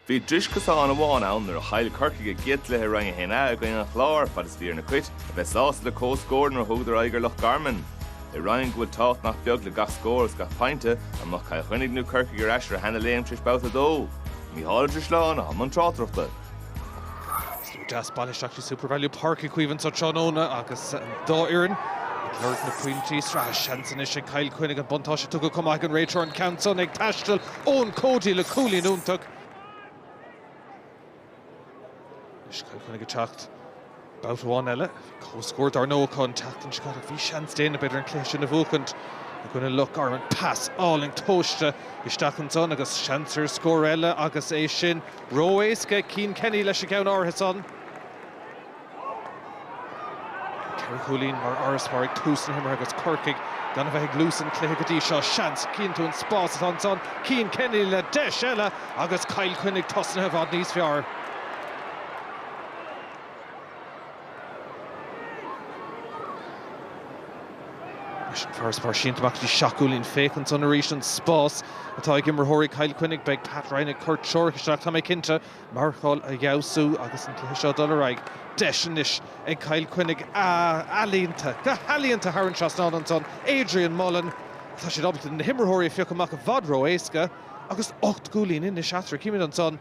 Bhí dris cosáin amháin ann nuair a chaill Corcaigh a gcéad cluiche Roinn 1A i gcoinne an Chláir fad is bhí ar na Cait a bheith sásta le comhscór nuair a thugadar aghaidh ar Loch Garman. I Roinn go bhfuil tábhacht nach beag le gach scór agus gach pointe, an mbeadh Cill Chainnigh nó Corcaigh ar ais ar a seana-léim tar éis Babhta 2? Micheál Ó Drisleáin i mbun tráchtaireachta. Deas bailithe isteach SuperValu Páirc Uí Chaoimh anseo tráthnóna agus an dá fhoireann ag lorg na bpointí sraithe. Seans anois ag Cill Chainnigh an buntáiste a tugadh chomh maith ag an réiteoir an ceann san ag taisteal, Eoin Cody le cúilín iontach. Anois Cill Chainnigh ag teacht babhta amháin eile. Comhscór dar ndóigh acu an tseachtain seo caite agus bhí seans déanach ag TJ an cluiche sin a bhuachaint i gcoinne Loch Garman. Pas álainn tomhaiste isteach ansan agus seans ar scór eile agus é sin ró-éasca ag Cian Kenny leis an gceann áirithe san. Ceithre chúilín mar fharasbarr ag tús na himeartha agus Corcaigh gan a bheith ag luas an chluiche go dtí seo. Seans, chíonn tú an spás atá ansan, Cian Kenny le deis eile agus Cill Chainnigh tosnaithe i bhfad níos fearr. Leis an farasbarr sínte amach go dtí seacht gcúilín, féach ansan arís an spás atá ag imritheoirí Chill Chainnigh. Beidh Pat Ryan ag cur treoracha isteach, tá mé cinnte, marcáil a fheabhsú agus an cluiche seo ag dul ar aghaidh. Deis anois ag Cill Chainnigh, ealaíonta, go healaíonta thar an trasnán ansan, Adrian Mullen. Tá siad ábalta na himritheoirí a phiocadh amach i bhfad ró-éasca agus ocht gcúilín anois eatarthu. Chímid ansan.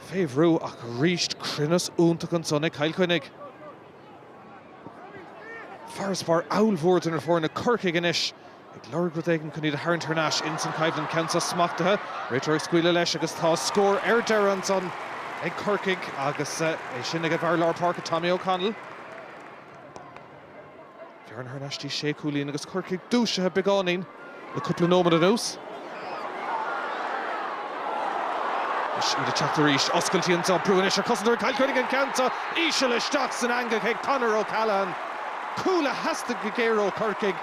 Fé bhrú ach arís cruinneas iontach ansan ag Cill Chainnigh. Farasbarr ollmhór idir na foirne Corcaigh anois ag lorg rud éigin chun iad a tharraingt thar n-ais ins an choimhlint, an ceann so smachtaithe. Réiteoir ag scaoileadh leis agus tá scór ar deireadh ansan ag Corcaigh agus é sin ag an bhfear lár páirce Tommy O'Connell. Farasbarr thar n-ais go dtí sé chúilín agus Corcaigh dúisithe beagáinín le cúpla nóimead anuas. Anois iad ag teacht arís. Oscailtí ansan, brú anois ar chosantóirí Chill Chainnigh an ceann seo íseal isteach san eangach ag Conor O'Callaghan. Cúl a theastaigh go géar ó Chorcaigh.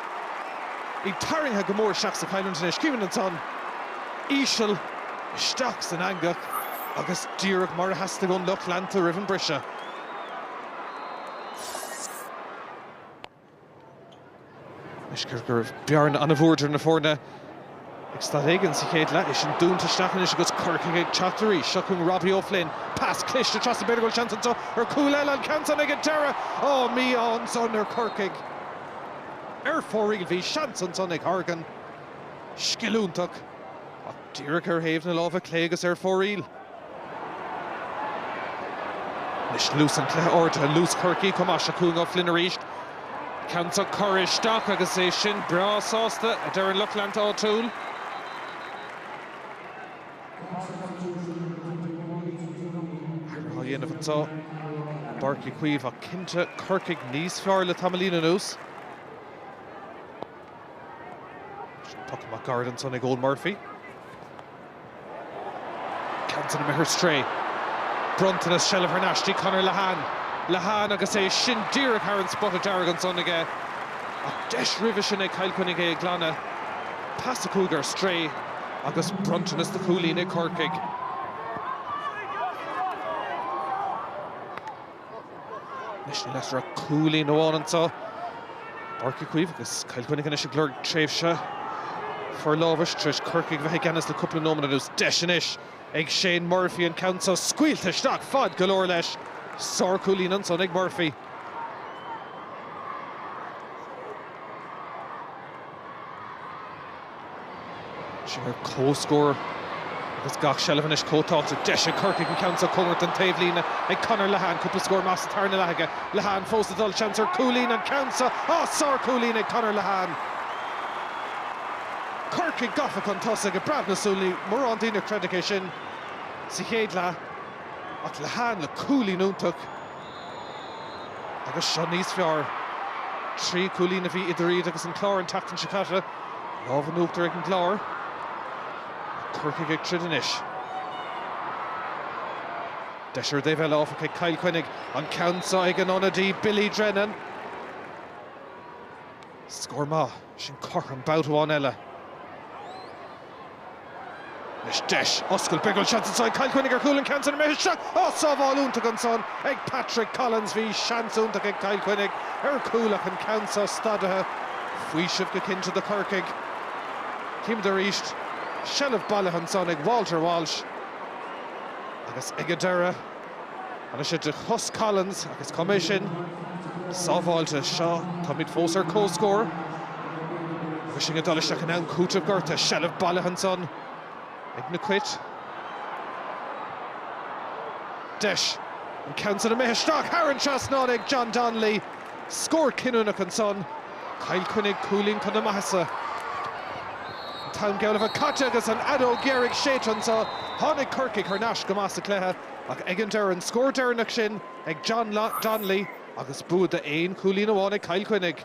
Iad tarraingthe go mór isteach sa choimhlint anois. Chímid ansan íseal isteach san eangach agus díreach mar a theastaigh ón lucht leanta roimh an briseadh. Anois cé go raibh bearna an-mhór idir na foirne ag staid éigin sa chéad leath, é sin dúnta isteach anois agus Corcaigh ag teacht arís. Seo chugainn Robbie O'Flynn. Pas cliste trasna, b'fhéidir go bhfuil seans anseo ar chúl eile. An ceann san an-tairiseach! Ó, mí-ádh ansan ar Chorcaigh. Ar fóraoil bhí seans ansan ag Horgan. Scil iontach. Díreach ar thaobh na láimhe clé agus ar fóraoil. Anois luas an chluiche ardaithe, luas Corcaigh chomh maith. Seo cúilín O'Flynn arís. Ceann san curtha isteach agus é sin breá sásta, a deir an lucht leanta áitiúil. Athrú á dhéanamh anso i bPáirc Uí Chaoimh ach cinnte Corcaigh níos fearr le tamaillín anuas. Puc amach gairid ansan ag Eoin Murphy. Ceann san imithe ar strae. Bronntanas, seilbh thar n-ais dtí Conor Lehane. Lehane agus é sin díreach thar an spota dearg ansan aige. Ach deis roimhe sin ag Cill Chainnigh é a ghlanadh. Pas a chuaigh ar strae agus bronntanas do chúilín ag Corcaigh. Anois níl eatarthu ach cúilín amháin anso. Páirc Uí Chaoimh agus Cill Chainnigh anois ag lorg tréimhse forlámhais tar éis Corcaigh a bheith i gceannas le cúpla nóiméad anuas. Deis anois ag Shane Murphy an ceann so scaoilte isteach. Fad go leor leis. Sár cúilín ansan ag Murphy. Siad ar comhscór agus gach seilbh anois chomh tábhachtach. Deis ag Corcaigh an ceann so a thabhairt ón taobh líne ag Conor Lehane. Cúpla scór maith sa tarna leath aige. Lehane fós ag dul. Seans ar cúilín. An ceann so. Á! Sárchúilín ag Conor Lehane. Corcaigh gafa chun tosaigh i bpreabadh na súl. Ní mórán duine a chreidfeadh é sin sa chéad leath. Ach Lehane le cúilín iontach. Agus seo níos fearr. Trí chúilín a bhí idir iad agus an Clár an tseachtain seo caite. Lámh in uachtar ag an gClár. Ach Corcaigh ag troid anois. Deis ar an dtaobh eile áfach ag Cill Chainnigh. An ceann so ag an ionadaí Billy Drennan. Scór maith. Sin cothrom babht amháin eile. Anois deis, oscailt, béal cúil, seans anso ag Cill Chainnigh ar chúl an ceann san imithe isteach. Á! Sábháil iontach ansan ag Patrick Collins. Bhí seans iontach ag Cill Chainnigh ar chúl ach an ceann so stadaithe. Faoiseamh go cinnte do Chorcaigh. Címid arís. Seilbh bailithe ansan ag Walter Walsh. Agus ag an deireadh. Tháinig sé de chos Collins agus choimeád sin sábháilte? Seo, táimid fós ar comhscór agus sinn ag dul isteach in am cúitimh. gortaithe, seilbh bailithe ansan ag na Cait. Deis an ceann san imithe isteach thar an trasnán ag John Donnelly. Scór cinniúnach ansan. Cill Chainnigh cúilín chun a maitheasa. An t-am geall le bheith caite agus an fheadóg dheiridh séidte anso. Tháinig Corcaigh thar n-ais go maith sa chluiche ach ag an deireadh an scór deireanach sin ag John Donnelly agus bua d'aon chúilín amháin ag Cill Chainnigh.